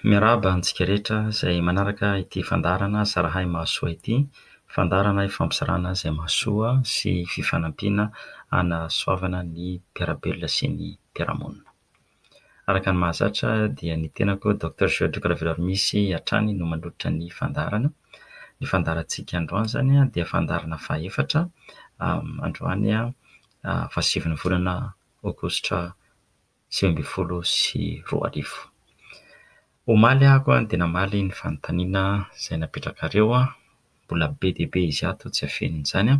Miarahaba antsika rehetra izay manaraka ity fandaharana Zarahay Mahasoa ity. Fandaharana ifampizarana izay mahasoa sy fifanampiana hanasoavana ny mpiara-belona sy ny mpiara-monina. Araka ny mahazatra dia ny tenako Docteur Georges Ravelarimisy hatrany no manolotra ny fandaharana. Ny fandaharantsika androany izany dia fandaharana fahefatra, androany fahasivy ny volana aogositra. sivy ambin'ny folo sy roa arivo. Omaly aho dia namaly ny fanontaniana izay napetrakareo, mbola be dia be izy ato tsy afenina izany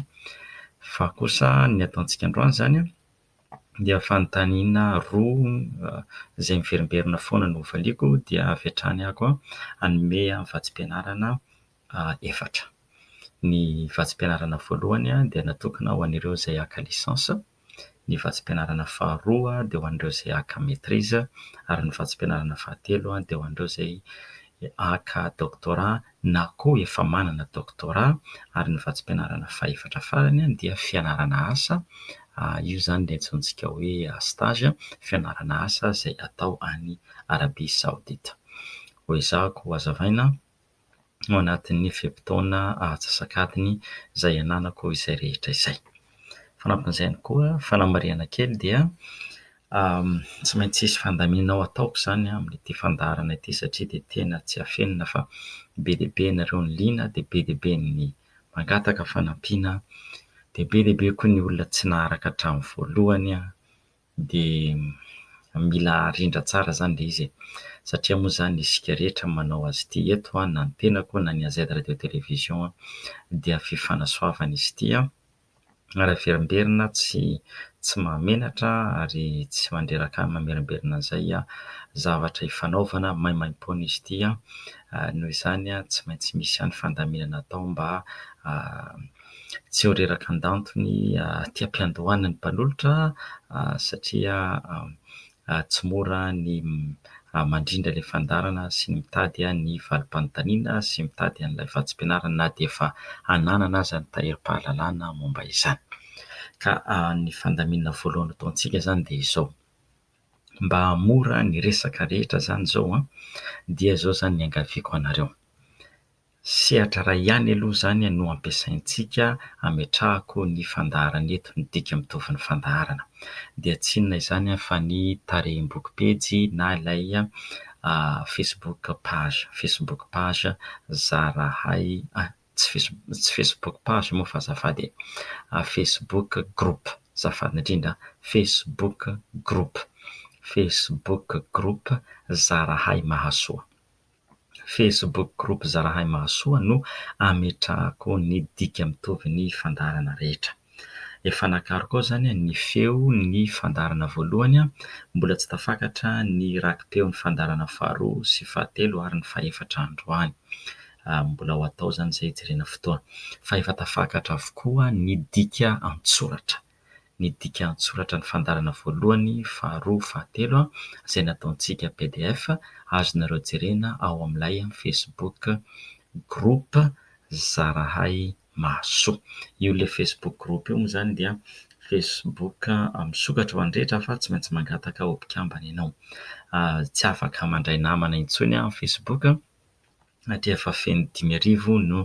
fa kosa ny ataontsika androany izany dia fanontaniana roa izay miverimberina foana no hovaliako dia avy hatrany aho hanome vatsim-pianarana efatra. Ny vatsim-pianarana voalohany dia natokana ho an'ireo izay haka licence, ny vatsim-pianarana faharoa dia ho an'ireo izay haka maitrise ary ny vatsim-pianarana fahatelo dia ho an'ireo izay haka doctorat na koa efa manana doctorat ary ny vatsim-pianarana fahefatra farany dia fianarana asa, io izany dia antsointsika hoe stage, fianarana asa izay atao any Arabia Saodita. Hoezahako ho hazavaina. ao anatin'ny fe-potoana atsasak'adiny izay ananako izay rehetra izay. Fanampin'izay ihany koa, fanamarihana kely dia tsy maintsy hisy fandaminana ho ataoko izany amin'ity fandaharana ity satria dia tena tsy afenina fa be dia be ianareo no liana dia be dia be ny mangataka fanampiana dia be dia be koa ny olona tsy naharaka hatramin'ny voalohany. dia mila arindra tsara zany le izy e! satria moa zany isika rehetra manao azy ity eto an, na ny tenako na ny AZ radio télévision an, dia fifanasoavana izy ity an, ary averimberina tsy tsy mahamenatra ary tsy mandreraka mamerimberina an'izay an, zavatra ifanaovana maimaimpoana izy ity an, noho izany an tsy maintsy misy ihany fandaminana atao mba tsy ho reraka an-dantony aty am-piandohana ny mpanolotra satria tsy mora ny mandrindra ilay fandaharana sy ny mitady ny valim-panontaniana sy mitady an'ilay vatsim-pianarana na dia efa ananana aza ny tahirim-pahalalana momba izany. Ka ny fandaminana voalohany ataontsika izany dia izao, mba hahamora ny resaka rehetra izany izao an, dia izao izany ny iangaviako anareo. Sehatra iray ihany aloha izany no ampiasaintsika hametrahako ny fandaharana eto, ny dika mitovy ny fandaharana. Dia tsy inona izany fa ny tarehim-boky pejy na ilay Facebook page, Facebook page zarahay, tsy face, tsy Facebook page moa fa azafady e, Facebook group, azafady indrindra, Facebook group, Facebook group zarahay mahasoa. Facebook groupe Zalahy Mahasoa no ametrahako ny dika mitovy ny fandaharana rehetra. Efa nakariko ao izany ny feo ny fandaharana voalohany, mbola tsy tafakatra ny rakipeon'ny fandaharana faharoa sy fahatelo ary ny fahefatra androany. Mbola ho atao izany izay hijerena fotoana. Fa efa tafakatra avokoa ny dika an-tsoratra. ny dikan-tsoratra ny fandaharana voalohany, faharoa, fahatelo izay nataontsika pdf azonareo jerena ao amin'ilay facebook group zarahay mahasoa. Io ilay facebook group io moa izany dia facebook misokatra ho an'ny rehetra fa tsy maintsy mangataka ho mpikambana ianao. Tsy afaka mandray namana intsony amin'ny facebook. na dia efa feno dimy arivo no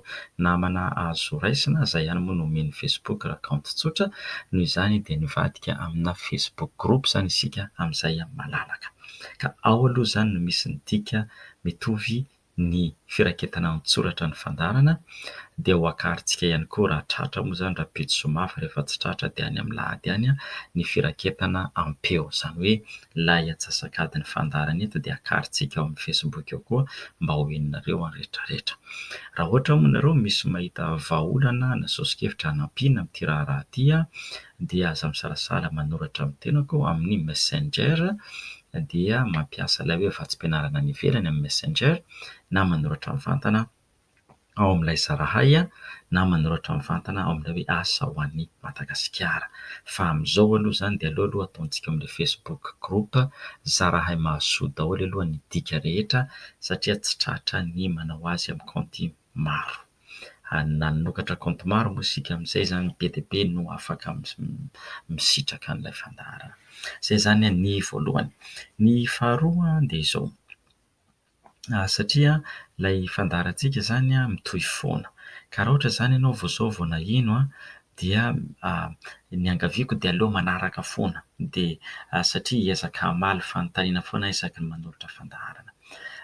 namana azo raisina aza ihany moa no omen'ny Facebook raha kaonty tsotra, noho izany dia nivadika amina Facebook group izany isika amin'izay malalaka. Ka ao aloha izany no misy ny dika mitovy ny firaketana an-tsoratra ny fandaharana dia ho akarintsika ihany koa raha tratra moa izany raha pejy soa mafy rehefa tsy tratra dia any amin'ny lahady any ny firaketana am-peo izany hoe Ilay antsasak'adiny fandaharana eto dia akarintsika ao amin'ny Facebook ao koa mba ho henonareo ny rehetrarehetra. Raha ohatra moa ianareo misy mahita vahaolana na soso-kevitra hanampiana amin'ity raharaha ity dia aza misalasala manoratra amin'ny tenako amin'ny Messenger dia mampiasa ilay hoe vatsim-pianarana any ivelany amin'ny Messenger na manoratra mivantana ao amin'ilay Zarahay na manoratra mivantana ao amin'ilay hoe Asa ho an'i Madagasikara. Fa amin'izao aloha izany dia aleo aloha ataontsika amin'ilay Facebook group Zarahay Mahasoa daholo aloha ny dika rehetra satria tsy tratra ny manao azy amin'ny kaonty maro. Nanokatra kaonty maro moa isika amin'izay izany be dia be no afaka misitraka an'ilay fandaharana. Izay izany ny voalohany. Ny faharoa dia izao. satria ilay fandaharantsika izany mitohy foana. Ka raha ohatra izany ianao vao izao vao naheno dia ny iangaviako dia aleo manaraka foana dia satria hiezaka hamaly fanontaniana foana aho isaky ny manolotra fandaharana.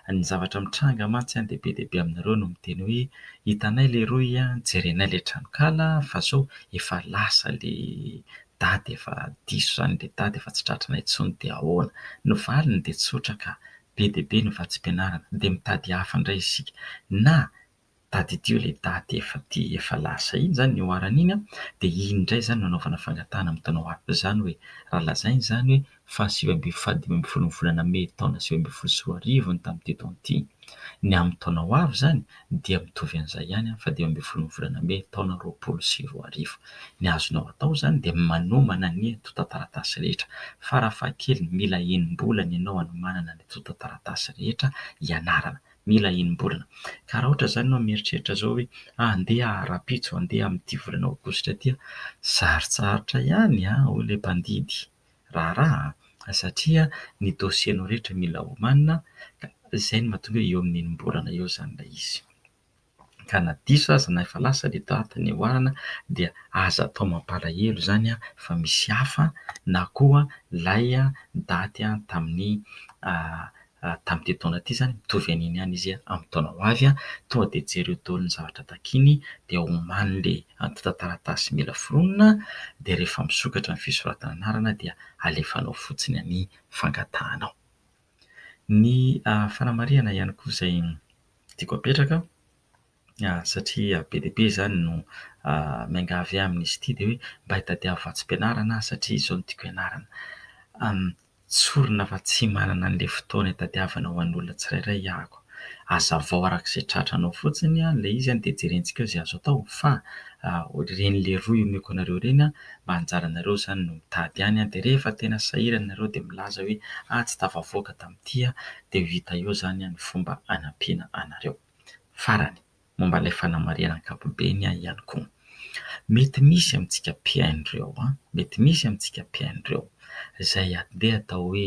Ny zavatra mitranga mantsy dia be dia be aminareo no miteny hoe hitanay leroy a, jerenay ilay tranonkala fa izao efa lasa ilay daty efa diso izany ilay daty efa tsy tratranay intsony dia ahoana. Ny valiny dia tsotra ka, be dia be ny vatsim-pianarana dia mitady hafa indray isika na tadidio ilay daty efa ty efa lasa iny izany ny oharana iny an, dia iny indray izany no anaovana fangatahana amin'ny taona ho avy izany hoe raha lazaina izany hoe faha sivy ambin'ny faha dimy ambin'ny folo ny volana mey taona sivy ambin'ny folo sy roa arivo ny tamin'ity taona ity ny amin'ny taona ho avy izany ny dia mitovy an'izay ihany amin'ny fahadimy ambin'ny folon'ny volana mey taona roapolo sy roa arivo. Ny azonao atao izany dia manomana ny antontan-taratasy rehetra, farafahakeliny mila enim-bolana ianao hanomanana ny antontan-taratasy rehetra ianarana, mila enim-bolana. Ka raha ohatra izany ianao mieritreritra izao hoe handeha aho rahampitso, handeha amin'ity volana aogositra ity aho, sarotsarotra ihany hoy ilay mpandidy. raharaha satria ny dossier-nao rehetra mila omanina ka izay no mahatonga hoe eo amin'ny enim-bolana eo izany ilay izy. Ka na diso aza na efa lasa ilay date niaoarana dia aza atao mampalahelo izany fa misy hafa na koa ilay date tamin'ny tamin'ity taona ity izany, mitovy an'iny ihany izy amin'ny taona ho avy. Tonga dia jereo daholo ny zavatra takiany, dia omany ilay antontan-taratasy mila foronina, dia rehefa misokatra ny fisoratana anarana dia alefanao fotsiny ny fangatahanao. Ny fanamarihana ihany koa izay tiako apetraka, satria be dia be izany no miangavy ahy amin'izy ity dia hoe mba hitadiavo vatsim-pianarana aho satria izao no tiako hianarana. Tsorina fa tsy manana an'ilay fotoana hitadiavana ho an'olona tsirairay aho. Azavao araka izay tratranao fotsiny ilay izy dia jerentsika eo izay azo atao fa ireny leroa omeko anareo ireny mba anjaranareo izany no mitady ihany dia rehefa tena sahirana ianareo dia milaza hoe ahy tsy tafavoaka tamin'ity aho dia ho hita eo izany ny fomba hanampiana anareo. Farany, momba ilay fanamarihana ankapobeny aho ihany koa. Mety misy amintsika mpihaino ireo an, mety misy amintsika mpihaino ireo izay andeha atao hoe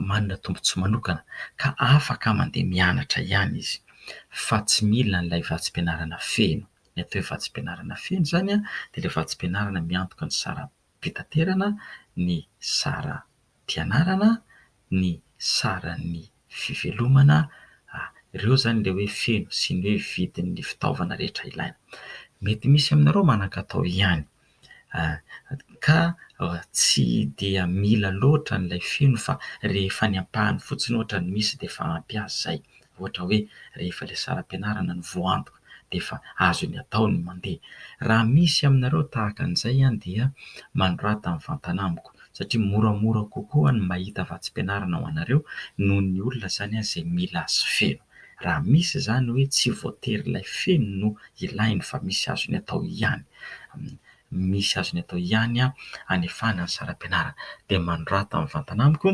manana tombontsoa manokana ka afaka mandeha mianatra ihany izy fa tsy mila an'ilay vatsim-pianarana feno. Ny atao hoe vatsim-pianarana feno izany dia ilay vatsim-pianarana miantoka ny sara-panahy. fitaterana, ny saram-pianarana, ny saran'ny fivelomana, ireo izany ilay hoe feno sy ny hoe vidin'ny fitaovana rehetra ilaina. Mety misy aminareo manan-katao ihany ka tsy dia mila loatra an'ilay feno fa rehefa ny ampahany fotsiny ohatra no misy dia efa ampy azy izay, ohatra hoe rehefa ilay saram-pianarana no voaantoka. dia efa azony atao ny mandeha. Raha misy aminareo tahaka an'izay dia manorata mivantana amiko satria moramora kokoa ny mahita vatsim-pianarana ho anareo noho ny olona izany izay mila azy feno. Raha misy izany hoe tsy voatery ilay feno no ilainy fa misy azony atao ihany, misy azony atao ihany hanefana ny saram-pianarana dia manorata mivantana amiko.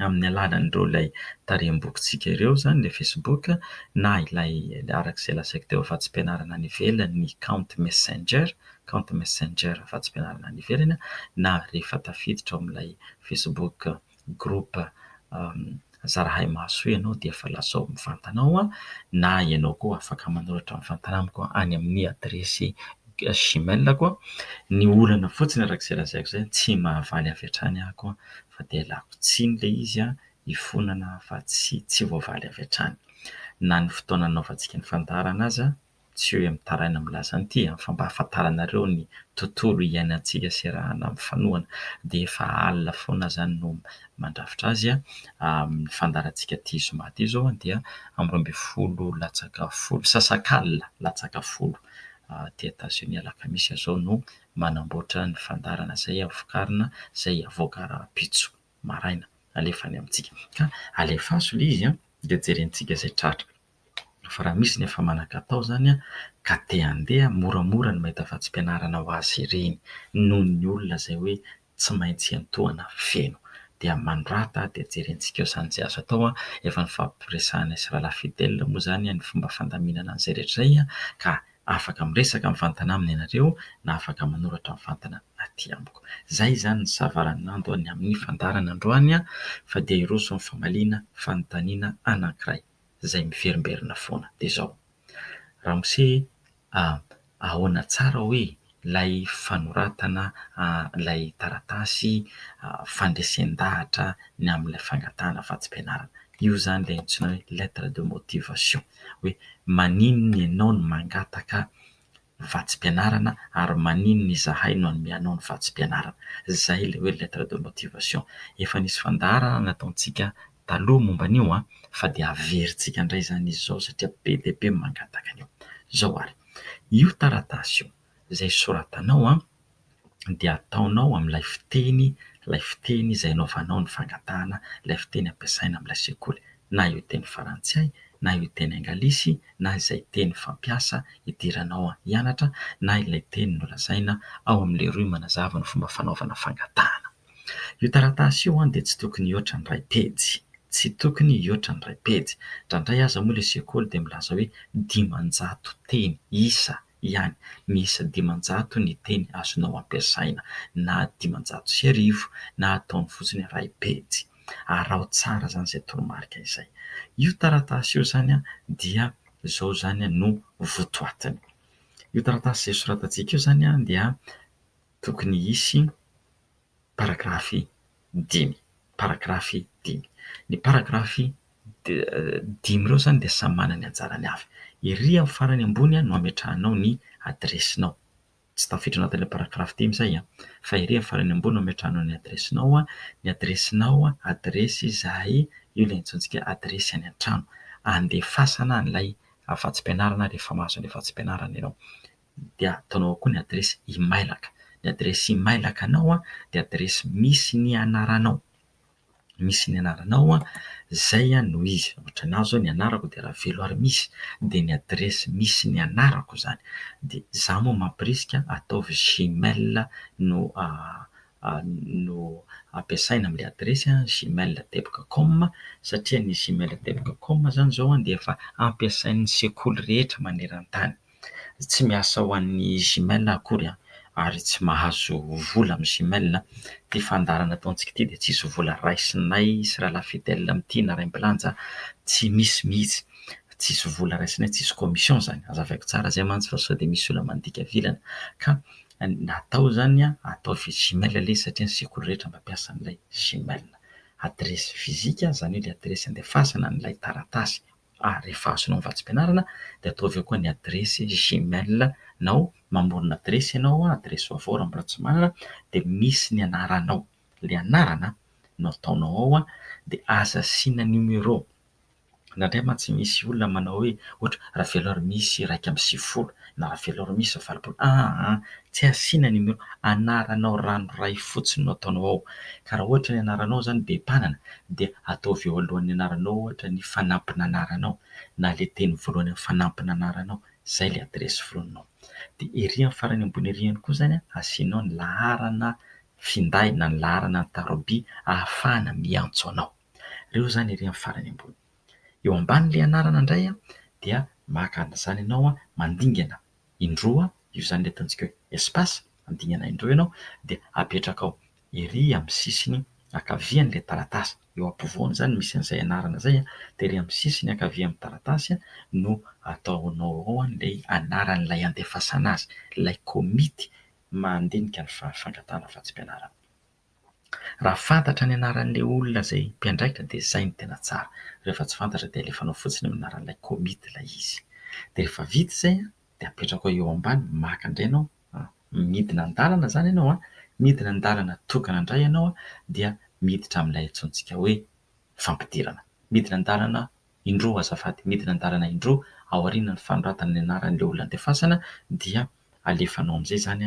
amin'ny alalan'ireo ilay tarehim-bokintsika ireo izany ilay facebook na ilay araka izay lazaiko teo afa-tsy-pianarana any ivelany ny kaonty messenger, kaonty messenger afa-tsy-pianarana any ivelany na rehefa tafiditra ao amin'ilay facebook group zara hay mahasoa ianao dia efa lazao mivantana ao na ianao koa afaka manoratra mivantana amiko any amin'ny adiresy. Gmail ko ny olana fotsiny araka izay lazaiko zay tsy mahavaly avy hatrany aho ko fa dia lako tsiny ilay izy an hifonana fa tsy tsy voavaly avy hatrany na ny fotoana nanaovantsika ny fandaharana aza tsy hoe mitaraina milaza an'ity an fa mba hahafantaranareo ny tontolo iainantsika serahana mifanohana dia efa alina foana aho zany no mandrafitra azy an amin'ny fandaharantsika ity zoma ity zao dia amin'ny roa ambin'ny folo latsaka folo sasak'alina latsaka folo aty Etazonia alakamisy azao no manamboatra ny fandaharana izay havokarina izay havoaka rahampitso maraina alefa any amintsika ka alefaso ilay izy an! dia jerentsika izay tratra fa raha misy ny efa manakatao izany an! ka te handeha moramora ny mahita vatsim-pianarana ho azy ireny noho ny olona izay hoe tsy maintsy hiantohana feno. Dia manorata dia jerentsika eo izany izay azo atao. Efa nifampiresahana sy Rahalahy Fidel moa izany ny fomba fandaminana an'izay rehetra izay ka afaka miresaka mivantana aminy ianareo na afaka manoratra mivantana aty amiko. Izay izany ny savaranando ny amin'ny fandaharana androany fa dia hiroso ny famaliana fanontaniana anankiray izay miverimberina foana. Dia izao, Ramose e! ahoana tsara hoe ilay fanoratana ilay taratasy fandresen-dahatra ny amin'ilay fangatahana vatsim-pianarana. Io izany ilay antsoina hoe lettre de motivation. Hoe maninona ianao no mangataka vatsim-pianarana ary maninona izahay no hanome anao ny vatsim-pianarana. Izay ilay hoe lettre de motivation. Efa nisy fandaharana nataontsika. taloha momba an'io an, fa dia averintsika indray izany izy izao satria be dia be ny mangataka an'io. Izao ary, io taratasy io izay soratanao an, dia ataonao amin'ilay fiteny, ilay fiteny izay anaovanao ny fangatahana, ilay fiteny ampiasaina amin'ilay sekoly, na io teny farantsay, na io teny angalisy, na izay teny fampiasa idiranao hianatra, na ilay teny nolazaina ao amin'ilay rohy manazava ny fomba fanaovana fangatahana. Io taratasy io dia tsy tokony hihoatra ny iray pejy. Tsy tokony hihoatra ny iray pejy. Indraindray aza moa ilay sekoly dia milaza hoe dimanjato teny, isa, ihany. Miisa dimanjato ny teny azonao ampiasaina, na dimanjato sy arivo, na ataony fotsiny iray pejy. Araho tsara izany izay toromarika izay. Io taratasy io izany dia izao izany no votoatiny. Io taratasy izay soratantsika io izany dia. tokony hisy paragrafy dimy, paragrafy dimy. Ny paragrafy dimy ireo izany dia samy manana ny anjarany avy. Ery amin'ny farany ambony no ametrahanao ny adiresinao, tsy tafiditra ao anatin'ilay paragrafy dimy izay an! fa ery amin'ny farany ambony no ametrahanao ny adiresinao, ny adiresinao, adiresy izahay, io ilay antsointsika adiresy any an-trano, andefasana an'ilay afa-tsy-pianarana rehefa mahazo an'ilay afa-tsy-pianarana ianao. dia ataonao ao koa ny adiresy imailaka, ny adiresy imailakanao dia adiresy misy ny anaranao, misy ny anaranao izay no izy, ohatra ny ahy izao ny anarako dia Raveloarimisy dia ny adiresy misy ny anarako izany, dia izaho moa mamporisika ataovy gmail no no ampiasaina amin'ilay adiresy gmail teboka com satria ny gmail teboka com izany izao dia efa ampiasain'ny sekoly rehetra maneran-tany. tsy miasa ho an'ny Gmail aho akory an, ary tsy mahazo vola amin'ny Gmail an, ity fandaharana ataontsika ity dia tsisy vola raisinay sy Ra la Fidèle amin'ity na Ray Mpilanza an, tsy misy mihitsy, tsisy vola raisinay, tsisy commission izany, azavaiko tsara izay mantsy fa sao dia misy olona mandika avy ilana, ka na atao izany an, atao via Gmail ilay izy satria ny sekoly rehetra mampiasa an'ilay Gmail, adiresy fizika izany hoe ilay adiresy andefasana an'ilay taratasy. ary rehefa azonao ny vatsim-pianarana dia ataovy eo koa ny adiresy gmail nao, mamorona adiresy ianao, adiresy vaovao raha mbola tsy manana, dia misy ny anaranao, ilay anarana no ataonao ao dia aza asiana numéro, indraindray mantsy misy olona manao hoe ohatra Ravelonarimisy iraika amby sivifolo. Navela rô misy valopolo aa tsy asiana numéro anaranao ranoray fotsiny no ataonao ao ka raha ohatra ny anaranao zany be mpanana dia ataovy eo alohan'ny anaranao ohatra ny fanampin'anaranao na le teny voalohany amin'ny fanampin'anaranao zay le adiresy forononao dia ery amin'ny farany ambony ery ihany koa zany a asianao ny laharana finday na ny laharana ny tarobia ahafahana miantso anao reo zany ery amin'ny farany ambony Eo ambanin'ilay anarana indray dia maka an'izany ianao mandingana indroa io izany ilay ataontsika hoe espace, mandingana indroa ianao dia apetrakao ery amin'ny sisiny ankavian'ilay taratasy, eo ampovoany izany misy an'izay anarana izay dia ery amin'ny sisiny ankavian'ny taratasy no ataonao ao ilay anaran'ilay andefasana azy, ilay komity mandinika ny fangatahana vatsim-pianarana. Raha fantatra ny anaran'ilay olona izay mpiandraikitra dia izay no tena tsara. Raha efa tsy fantatra dia alefanao fotsiny amin'ny anaran'ilay komity ilay izy. Dia rehefa vita izay an, dia apetrako eo ambany, maka indray ianao, midina an-dalana izany ianao an, midina an-dalana tokana indray ianao dia miditra amin'ilay antsointsika hoe fampidirana. Midina an-dalana indroa azafady, midina an-dalana indroa aorianan'ny fanoratana ny anaran'ilay olona andefasana dia alefanao amin'izay izany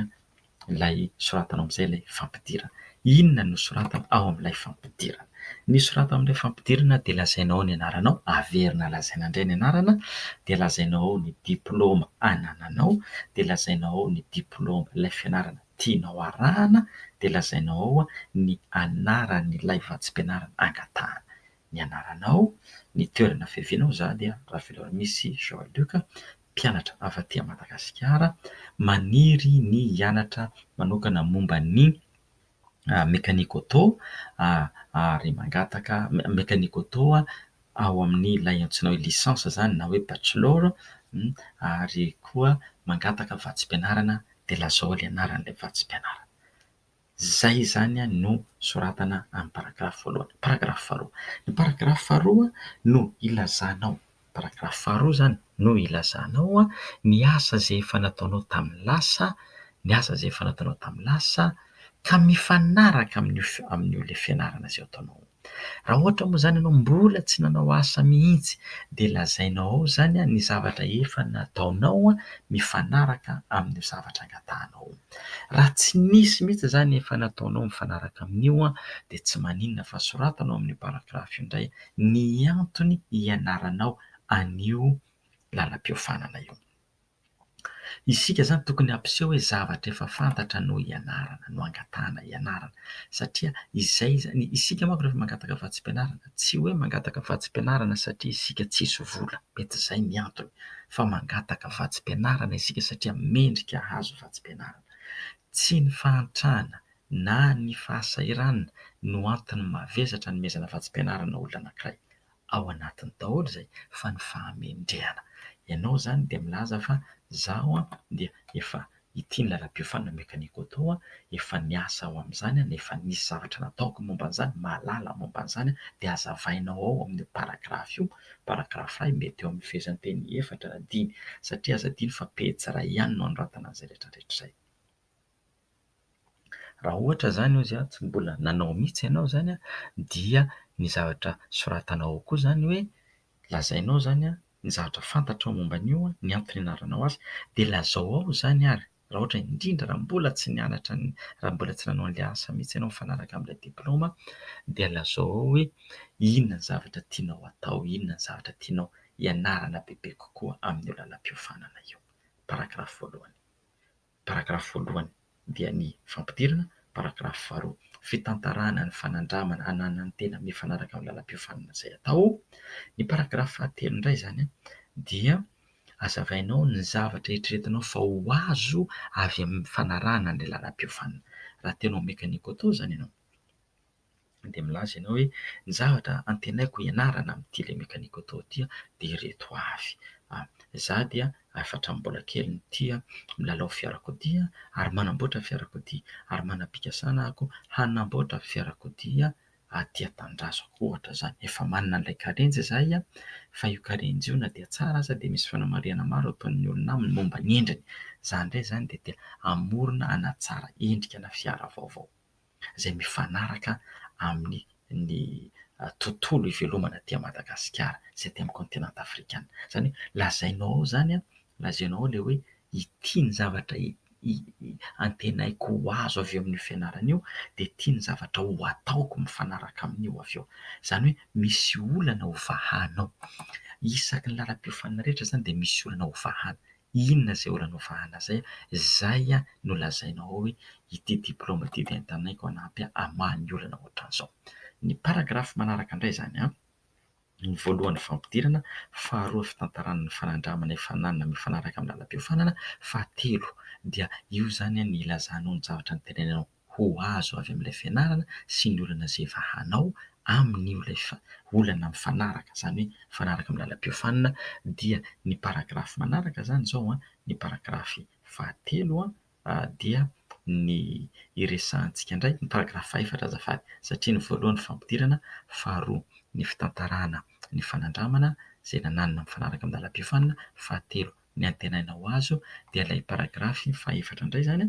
ilay soratanao amin'izay ilay fampidirana. Inona no soratana ao amin'ilay fampidirana? Ny soratana ao amin'ilay fampidirana dia lazainao ao ny anaranao, averina lazaina indray ny anarana, dia lazainao ao ny diplaoma anananao, dia lazainao ao ny diplaoma ilay fianarana tianao harahana, dia lazainao ao ny anaran'ilay vatsim-pianarana angatahana. ny anaranao, ny toerana fiavianao, za dia Ravelonamisy Jean Luc, mpianatra avy aty Madagasikara, maniry ny hianatra manokana momba ny mécanique auto ary mangataka mécanique auto ao amin'ilay antsoina hoe licence zany na hoe bachelor ary koa mangataka vatsim-pianarana de lazao le anaran'ilay vatsim-pianarana. Izay izany no soratana amin'ny paragrafy voalohany. Paragrafy faharoa. Ny paragrafy faharoa no ilazanao, paragrafy faharoa izany no ilazanao ny asa izay efa nataonao tamin'ny lasa, ny asa izay efa nataonao tamin'ny lasa ka mifanaraka amin'io, amin'io ilay fianarana izay ataonao. Raha ohatra moa izany ianao mbola tsy nanao asa mihitsy dia lazainao ao izany ny zavatra efa nataonao mifanaraka amin'io zavatra angatahanao io. Raha tsy nisy mihitsy izany efa nataonao mifanaraka amin'io dia tsy maninona fa soratana ao amin'io paragrafy io indray ny antony hianaranao an'io lalam-piofanana io. Isika izany tokony hampiseho hoe zavatra efa fantatra no ianarana, no angatahana ianarana, satria izay izany, isika manko rehefa mangataka vatsim-pianarana, tsy hoe mangataka vatsim-pianarana satria isika tsisy vola, mety izay ny antony, fa mangataka vatsim-pianarana isika satria mendrika hahazo vatsim-pianarana. Tsy ny fahantrana na ny fahasahiranana no antony mahavesatra anomezana vatsim-pianarana olona anankiray, ao anatiny daholo izay fa ny fahamendrehana. Ianao izany dia milaza fa izaho dia efa ity ny lalam-piofanana mekanika auto, efa niasa aho amin'izany, efa nisy zavatra nataoko momba an'izany, mahalala momba an'izany dia azavainao ao amin'io paragrafy io, paragrafy iray mety eo amin'ny fehezanteny efatra na dimy satria aza adino fa pejy iray ihany no anoratana an'izay rehetra rehetra izay. Raha ohatra izany hoy izy tsy mbola nanao mihitsy ianao izany dia ny zavatra soratanao ao koa izany hoe lazainao izany ny zavatra fantatrao momba an'io, ny antony anaranao azy dia lazao ao izany ary raha ohatra indrindra raha mbola tsy nianatra ny raha mbola tsy nanao ilay asa mihitsy ianao mifanaraka amin'ilay diplaoma dia lazao ao hoe inona ny zavatra tianao atao, inona ny zavatra tianao hianarana bebe kokoa amin'io lalam-piofanana io. Paragrafy voalohany. paragrafy voalohany dia ny fampidirana paragrafy faharoa, fitantarana ny fanandramana ananan'ny tena mifanaraka amin'ny lalam-piofanana izay atao. Ny paragrafy fahatelo indray izany dia azavainao ny zavatra eritreretinao fa ho azo avy amin'ny fanarahana an'ilay lalam-piofanana. Raha te hanao mekaniko atao izany ianao, dia milaza ianao hoe ny zavatra antenaiko hianarana amin'ny tele-mécanique auto ity dia ireto avy, za dia efa hatramin'ny mbola kely no tia milalao fiarakodia ary manamboatra fiarakodia ary manam-pikasana ako hanamboatra fiarakodia aty an-tanindrazako ohatra izany, efa manana an'ilay karenjy izahay fa io karenjy io na dia tsara aza dia misy fanamarihana maro ataon'ny olona aminy momba ny endriny, za indray izany dia te hamorona hanatsara endrika ana fiara vaovao. izay mifanaraka amin'ny ny tontolo ivelomana aty Madagasikara sy aty amin'ny kaontinanta afrikana. Izany hoe lazainao ao izany, lazainao ao ilay hoe ity ny zavatra antenaiko ho azo avy eo amin'io fianarana io dia ity ny zavatra ho ataoko mifanaraka amin'io avy eo. Izany hoe misy olana hovahanao. Isaky ny lalam-piofanana rehetra izany dia misy olana hovahana. Inona izay olana ovahana izay? Izay no lazainao ao hoe ity diplaoma ity dia entanay koa hanampy hamaha ny olana ohatran'izao. Ny paragrafy manaraka indray izany, ny voalohany fampidirana, faharoa fitantarana ny fanandramana efa nanana mifanaraka amin'ny lalam-piofanana, fahatelo dia io izany no ilazanao ny zavatra noteneninao. ho azo avy amin'ilay fianarana sy ny olana izay efa hanao amin'io ilay olana mifanaraka, izany hoe mifanaraka amin'ny lalam-piofanina, dia ny paragrafy manaraka izany izao an, ny paragrafy fahatelo an, dia ny iresahantsika indray ny paragrafy fahefatra azafady, satria ny voalohany fampidirana, faharoa ny fitantarana ny fanandramana izay nananina mifanaraka amin'ny lalam-piofanina, fahatelo ny antenainao azo dia ilay paragrafy fahefatra indray izany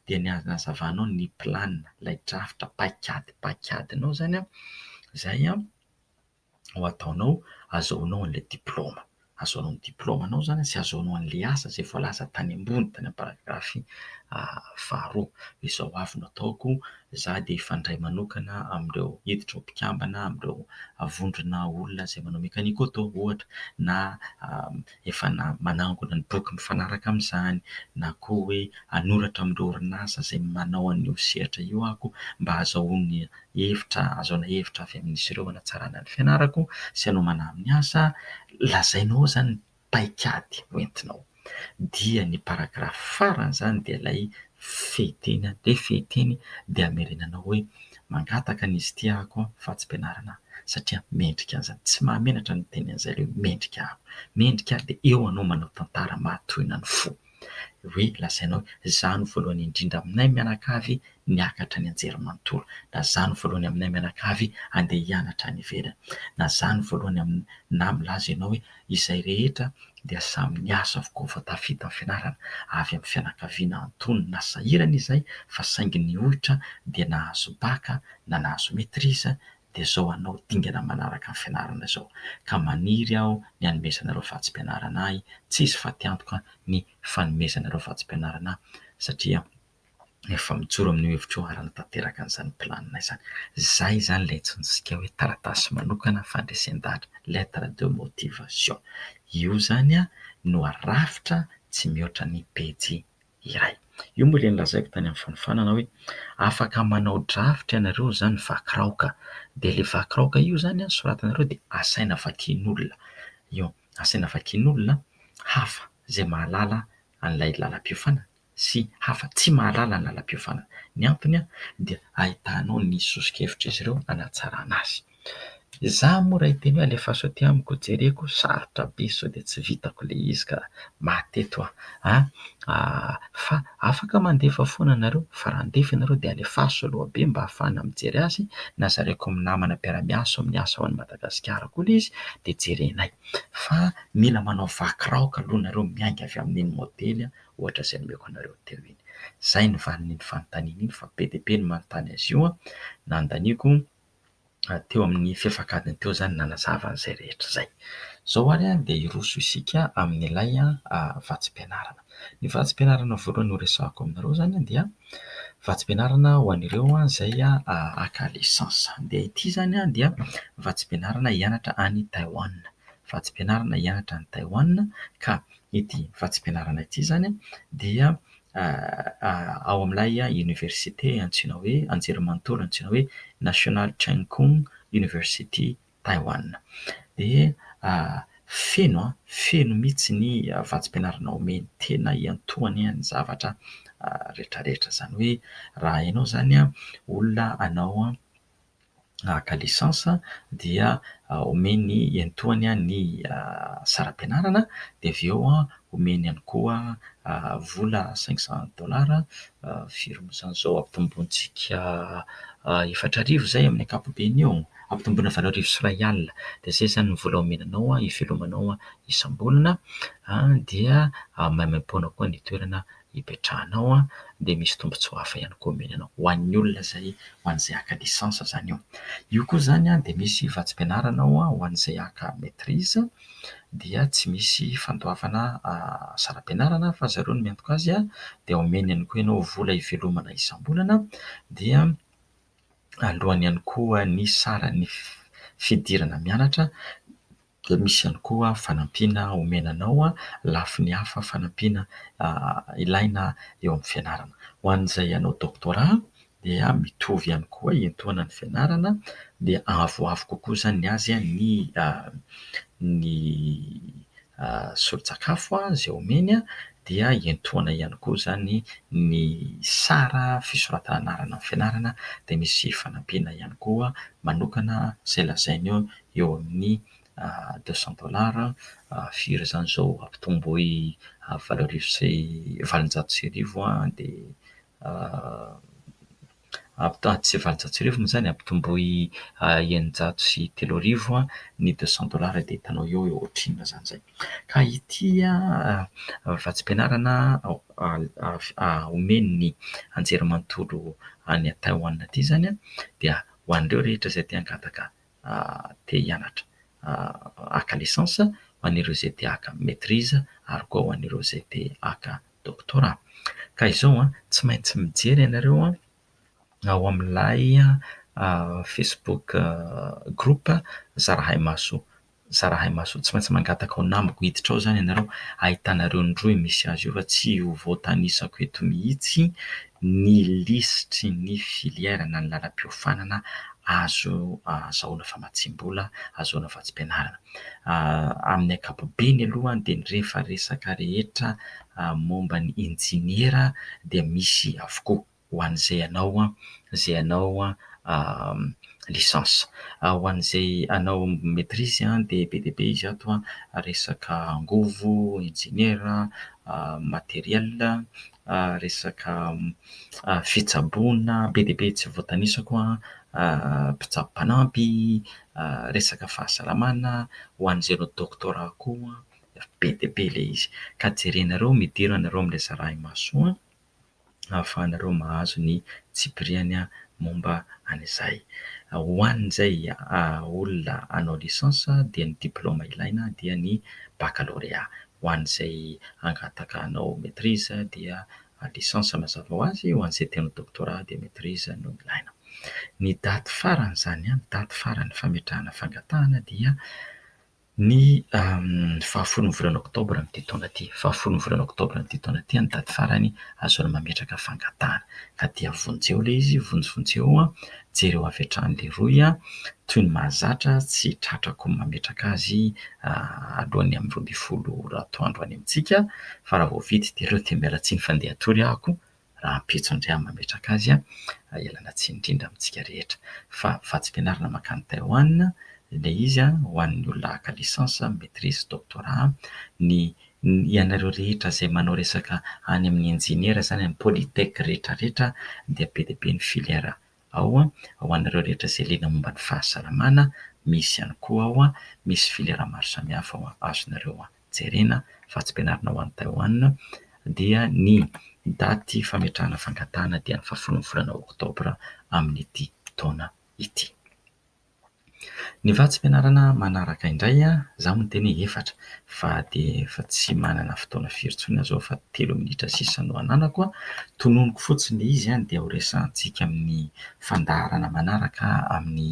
dia ny hanazavanao ny plan, ilay drafitra paikady paikadinao izany izay ho ataonao hahazoanao an'ilay diplaoma. Hahazoanao ny diplaomanao izany sy hahazoanao an'ilay asa izay voalaza tany ambony tany amin'ny paragrafy faharoa. Izao avy no ataoko, izaho dia hifandray manokana amin'ireo hiditra ho mpikambana amin'ireo vondrona olona izay manao mekaniko auto ohatra na efa na manangona ny boky mifanaraka amin'izany na koa hoe hanoratra amin'ireo orinasa izay manao an'io sehatra io aho mba hahazoana hevitra, hahazoana hevitra avy amin'izy ireo hanatsarana ny fianarako sy hanomana amin'ny asa. Lazainao ao izany ny paikady hoentinao. Dia ny paragraphe faran'izany dia ilay fehy teny, dia fehy teny dia hamerenanao hoe. Mangataka ny izy ity ako an fa tsy mpianarana aho satria mendrika an'izany. Tsy mahamenatra ny miteny an'izay le hoe mendrika aho. Mendrika aho dia eo anao manao tantara mahatohina ny fo. Hoe lazainao hoe za no voalohany indrindra aminay mianakavy niakatra nianjery manontolo, na za no voalohany aminay mianakavy andeha hianatra any ivelany, na za no voalohany amin na milaza ianao hoe izay rehetra dia samy niasa avokoa vao tafita ny fianarana, avy amin'ny fianakaviana antonony na sahirana izay fa saingy nihoitra dia nahazo bac na nahazo maitrise dia zao hanao dingana manaraka ny fianarana izao ka maniry aho ny hanomezanareo vatsim-pianarana ahy, tsy izy fa tiantoka ny fanomezanareo vatsim-pianarana ahy satria. efa mijoro amin'io hevitra io ary hanatanteraka an'izany planina izany. Izay izany ilay antsointsika hoe taratasy manokana fandresen-dahatra, lettre de motivation. Io izany no arafitra tsy mihoatra ny pejy iray. Io moa ilay nolazaiko tany amin'ny fanofanana hoe afaka manao drafitra ianareo izany vaky raoka, dia ilay vaky raoka io izany soratanareo dia asaina vakian'olona io, asaina vakian'olona hafa izay mahalala an'ilay lalam-piofanana. sy hafa tsy mahalala ny lalam-piofanana. Ny antony dia ahitana ao ny soso-kevitr'izy ireo hanatsarana azy. Izaho moa raha hiteny hoe alefaso aty amiko, jereko, sarotra be sao dia tsy vitako ilay izy ka maty eto aho a! fa afaka mandefa foana nareo fa raha handefa ianareo dia alefaso aloha be mba hahafahana mijery azy na zaraiko amin'ny namana mpiara-miasa ao amin'ny asa ao any Madagasikara koa ilay izy dia jerenay fa mila manao vaky raoka aloha nareo miainga avy amin'iny modely ohatra izay nomeko anareo teo iny. Izay ny valin'iny fanontaniana iny fa be dia be ny manontany azy io. Nandaniako teo amin'ny fefak'adiny teo izany nanazava an'izay rehetra izay. Izao ary dia hiroso isika amin'ilay vatsim-pianarana. Ny vatsim-pianarana voalohany horesahako aminareo izany dia vatsim-pianarana ho an'ireo izay haka lisansa. Dia ity izany dia vatsim-pianarana hianatra any Taiwan. Vatsim-pianarana hianatra any Taiwan ka Ity vatsim-pianarana ity izany dia ao amin'ilay oniversite antsoina hoe, anjerimanontolo antsoina hoe National Cheng Kung University Taiwan. Dia feno, feno mihitsy ny vatsim-pianarana omeny, tena iantohany ny zavatra rehetrarehetra. Izany hoe raha ianao izany olona hanao haka licence dia omeny iantohany ny saram-pianarana dia avy eo omeny ihany koa vola cinq cent dollars firon'izan'izao ampitombointsika efatra arivo izay amin'ny ankapobeny eo, ampitomboina valo arivo sy iray alina dia izay izany ny vola omena anao hivelomanao isam-bolana dia maimaim-poana koa ny toerana hipetrahanao an, dia misy tombontsoa hafa ihany koa omeny anao ho an'ny olona izay ho an'izay haka licence izany eo. Io koa izany an dia misy vatsim-pianarana ao an ho an'izay haka maitrise dia tsy misy fandoavana saram-pianarana fa zareo no miantoka azy an, dia omeny ihany koa ianao vola hivelomana isam-bolana dia aloany ihany koa ny saran'ny fidirana mianatra. dia misy ihany koa fanampiana omena anao lafiny hafa fanampiana ilaina eo amin'ny fianarana. Ho an'izay hanao doctorat dia mitovy ihany koa hiantoana ny fianarana dia avoavo kokoa izany ny azy ny ny solon-tsakafo izay omeny dia hiantoana ihany koa izany ny sara fisoratana anarana amin'ny fianarana dia misy fanampiana ihany koa manokana izay lazainy eo eo amin'ny deux cent dollars, firy izany izao ampitomboy valo arivo sy valonjato sy arivo dia ampitaha- tsy valonjato sy arivo moa izany, ampitomboy eninjato sy telo arivo ny deux cent dollars dia hitanao eo hoe ohatrinona izany izay. Ka ity vatsim-pianarana omen'ny anjerimanontolo any Taiwan ity izany dia ho an'ireo rehetra izay te-hangataka te hianatra haka licence, ho an'ireo izay te haka maitrise ary koa ho an'ireo izay te haka doctorat. Ka izao an, tsy maintsy mijery ianareo ao amin'ilay facebook group Zarahaimaso, Zarahaimaso. Tsy maintsy mangataka ho namako hiditra ao izany ianareo. Ahitanareo ny rohy misy azy io fa tsy ho voatanisako eto mihitsy ny lisitry ny filière na ny lalam-piofanana azo ahazahoana famatsiam-bola, ahazoana vatsim-pianarana. Amin'ny ankapobeny aloha dia ny rehefa resaka rehetra momba ny injeniera dia misy avokoa ho an'izay hanao izay hanao licence. Ho an'izay hanao maîtrise dia be dia be izy ato resaka angovo, injeniera, matériel, resaka fitsaboana be dia be tsy voatanisako an, mpitsabo mpanampy, resaka fahasalamana ho an'izay hanao doctorat koa be dia be ilay izy. Ka jerenareo midera anareo amin'ilay zarahimasoa ahafahanareo mahazo ny tsipiriany momba an'izay. Ho an'izay olona hanao licence dia ny diplaoma ilaina dia ny baccalauréat. ho an'izay hangataka hanao maîtrise dia licence mazava ho azy, ho an'izay te hanao doctorat dia maîtrise no ilaina. Ny daty faran'izany, ny daty faran'ny fametrahana fangatahana dia ny fahafolon'ny volana oktobra amin'ity taona ity, fahafolon'ny volana oktobra amin'ity taona ity ny daty farany ahazoana mametraka fangatahana ka dia vonjeo ilay izy, vonjy vonjeo jereo avy hatrany leroy a! toy ny mahazatra tsy tratrako ny mametraka azy alohan'ny amin'ny roa ambin'ny folo ora atoandro any amintsika fa raha vao vita dia aleo dia miala tsiny fa ndeha hatory aho ko rahampitso indray aho mametraka azy a! ialana tsiny indrindra amintsika rehetra fa vatsim-pianarana mankany Taiwan ilay izy a! ho an'ny olona haka licence, maitrise, doctorat ny Ny ianareo rehetra izay manao resaka any amin'ny injeniera izany amin'ny polytech rehetra rehetra dia be dia be ny filière ao ho anareo rehetra izay liana momba ny fahasalamana misy ihany koa ao misy filière maro samihafa ao azonareo jerena fa tsy ampianarina ho any Taiwan dia ny daty fametrahana fangatahana dia ny fahafolon'ny volana oktobra amin'ity taona ity. Ny vatsim-pianarana manaraka indray izaho miteny hoe efatra fa dia efa tsy manana fotoana firy intsony aho izao fa telo minitra sisa no ananako. Tononiko fotsiny ilay izy dia ho resahantsika amin'ny fandaharana manaraka amin'ny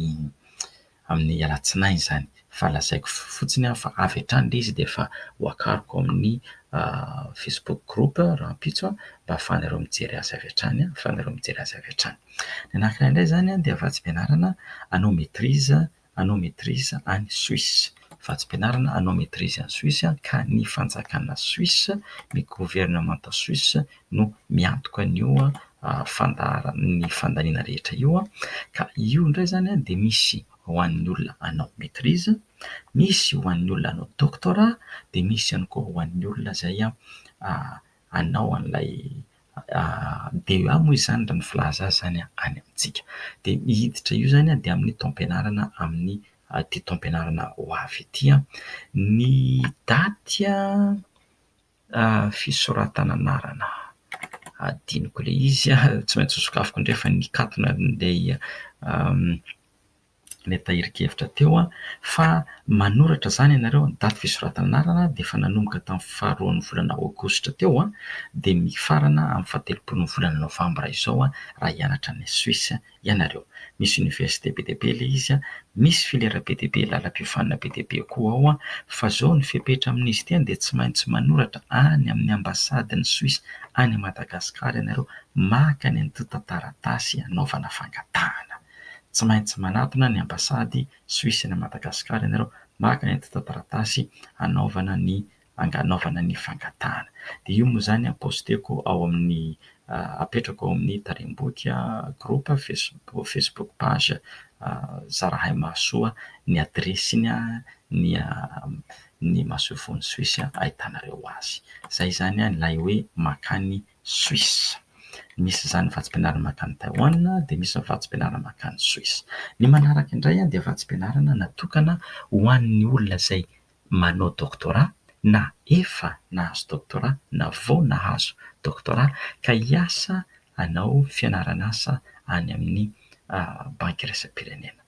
amin'ny alatsinainy izany. Fa lazaiko fotsiny fa avy hatrany ilay izy dia efa ho akariko amin'ny facebook group rahampitso mba ahafahanareo mijery azy avy hatrany, ahafahanareo mijery azy avy hatrany. Ny anarana indray izany dia vatsim-pianarana anao maitrise, anao maitrise any Suisse. Vatsim-pianarana anao maitrise any Suisse ka ny fanjakana Suisse, ny governemanta Suisse no miantoka an'io fandaharan- ny fandaniana rehetra io. Ka io indray izany dia misy ho an'ny olona hanao maitrise, misy ho an'ny olona hanao doctorat, dia misy ihany koa ho an'ny olona izay ... hanao an'ilay DEA moa izany raha ny filaza azy izany any amintsika. Dia ny hiditra io izany dia amin'ny taom-pianarana amin'ny ity taom-pianarana ho avy ity. Ny daty fisoratana anarana, hadinoko ilay izy, tsy maintsy ho sokafiko indray fa nikatona ilay ilay tahirin-kevitra teo fa manoratra izany ianareo ny daty fisoratana anarana dia efa nanomboka tamin'ny faharoan'ny volana aogositra teo dia mifarana amin'ny fahatelopolon'ny volana novambra izao raha hianatra any Suisse ianareo. Misy université be dia be ilay izy, misy filière be dia be, lalam-piofanana be dia be koa ao fa izao ny fepetra amin'izy ity dia tsy maintsy manoratra any amin'ny ambasadin'i Suisse any Madagasikara ianareo maka ny antontan-taratasy hanaovana fangatahana. Tsy maintsy manatona ny ambasady Suisse any Madagasikara ianareo maka entin-taratasy hanaovana ny hanaovana ny fangatahana. Dia io moa izany posteko ao amin'ny apetrako ao amin'ny Tarehimbody groupe facebook facebook page Zarahaimahasoa ny adiresiny ny ny masoivohon'i Suisse ahitanareo azy. Izay izany ilay hoe mankany Suisse. Misy izany vatsim-pianarana mankany Taiwan dia misy ny vatsim-pianarana mankany Suisse. Ny manaraka indray dia vatsim-pianarana natokana ho an'ny olona izay manao doctorat na efa nahazo doctorat na vao nahazo doctorat ka hiasa hanao fianaran'asa any amin'ny Banky Iraisam-pirenena.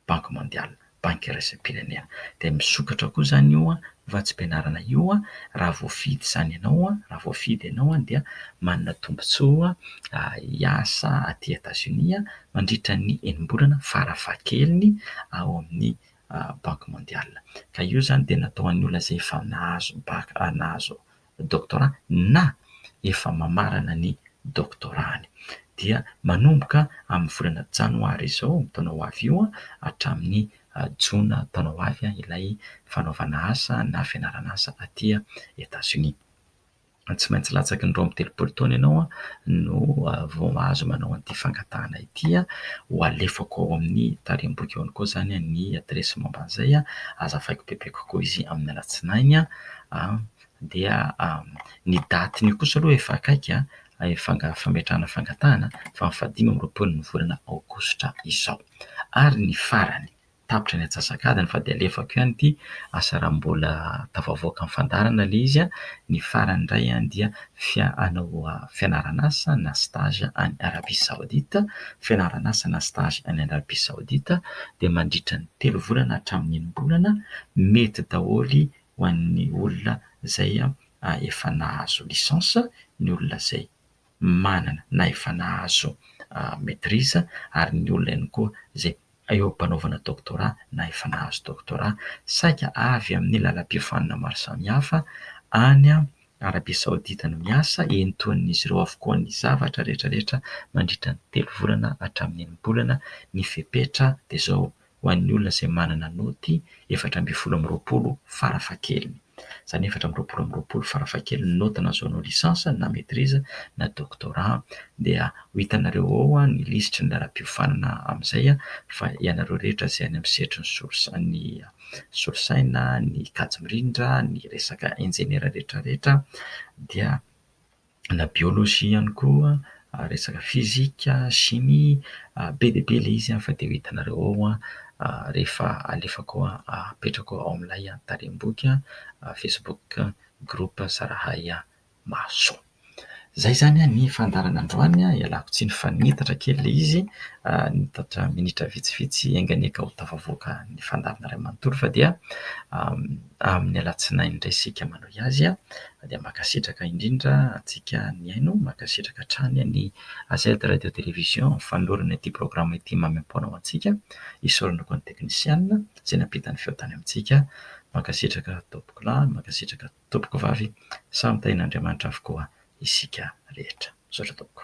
Banky Mondiale, Banky Iraisam-pirenena. Dia misokatra koa izany io vatsim-pianarana io raha voafidy izany ianao, raha voafidy ianao dia manana tombontsoa hiasa aty Etazonia mandritra ny enim-bolana farafahakeliny ao amin'ny Banky Mondiale. Ka io izany dia natao ho an'ny olona izay efa nahazo baka, nahazo doctorat na efa mamarana ny doctorat-ny dia manomboka amin'ny volana janoary izao taona ho avy io hatramin'ny jona taona ho avy ilay fanaovana asa na fianarana asa aty Etazonia. Tsy maintsy latsaky ny roa amby telopolo taona ianao no vao mahazo manao an'ity fangatahana ity. Ho alefako ao amin'ny tarehimboko eo ihany koa izany ny adiresy momba an'izay. Azavaiko bebe kokoa izy amin'ny alatsinainy. dia ny datin'io kosa aloha efa akaiky fanga- fametrahana fangatahana fa ny fahadimy amby roapolo ny volana aogositra izao. Ary ny farany, tapitra ny antsasak'adiny fa dia alefako ihany ity asa raha mbola tafavoaka ny fandaharana ilay izy, ny farany indray dia fia- hanao fianaran'asa na stage any Arabia Saodita, fianaran'asa na stage any Arabia Saodita dia mandritra ny telo volana hatramin'ny enim-bolana, mety daholo ho an'ny olona izay efa nahazo licence, ny olona izay manana na efa nahazo maitrise ary ny olona ihany koa izay eo am-panaovana doctorat na efa nahazo doctorat. Saika avy amin'ny lalam-piofanana maro samihafa any Arabia Saodita no miasa, entohin'izy ireo avokoa ny zavatra rehetra rehetra mandritra ny telo volana hatramin'ny enim-bolana ny fepetra dia izao ho an'ny olona izay manana naoty efatra ambin'ny folo amby roapolo farafahakeliny. Izany efatra amby roapolo amby roapolo farafahakeliny ny naoty nahazoanao licence na maitrise na doctorat dia ho hitanareo ao ny lisitry ny laharam-piofanana amin'izay fa ianareo rehetra izay any amin'ny sehatry ny solosaina, ny solosaina, ny kajy mirindra, ny resaka injeniera rehetra rehetra dia na biolojia ihany koa, resaka fizika, shimia, be dia be ilay izy fa dia ho hitanareo ao rehefa alefako apetrako ao amin'ilay tarehim-boky facebook group Zarahay Mahasoa. Izay izany ny fandaharana androany, ialako tsiny fa niitatra kely ilay izy, niitatra minitra vitsivitsy enga ny eka ho tafavoaka ny fandaharana iray manontolo fa dia amin'ny alatsinainy indray isika manohy azy dia mankasitraka indrindra antsika nihaino, mankasitraka hatrany ny Gazety Radio Television fanolorana ity programa ity maimaim-poana ho antsika, isaorana koa ny teknisiana izay nampita ny feo tany amintsika, mankasitraka tompoko lahy, mankasitraka tompoko vavy, samy tahian'Andriamanitra avokoa isika rehetra, misaotra tompoko.